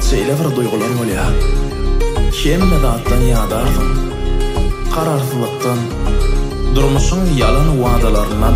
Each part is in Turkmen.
şeýle bir duýgular bolýar. Hemme zatdan ýadarsyň. Kararsyzlykdan, durmuşyň ýalan wadalaryndan.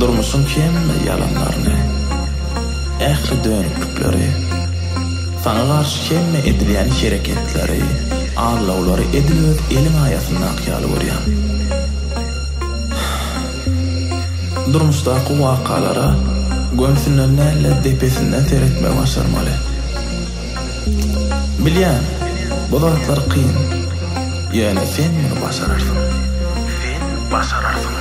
Durmuşyň hemme ýalanlaryny, ähli dönüklikleri, saňa garşy hemme edilýän hereketleri, aldawlary edil öz eliň aýasyndaky ýaly görýäň. Durmuşdaky wakalara gönsünden däl-de depesinden seretmegi başarmaly. Bilýän, bu zatlar kyn. Ýöne sen muny başararsyň. Sen başararsyň.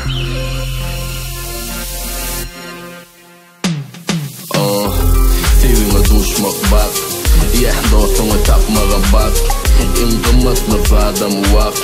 Oh, Söýgiňe duşmak bagt. Ýa dostuňy tapmaga bagt. Iň gymmatly zadam wagt.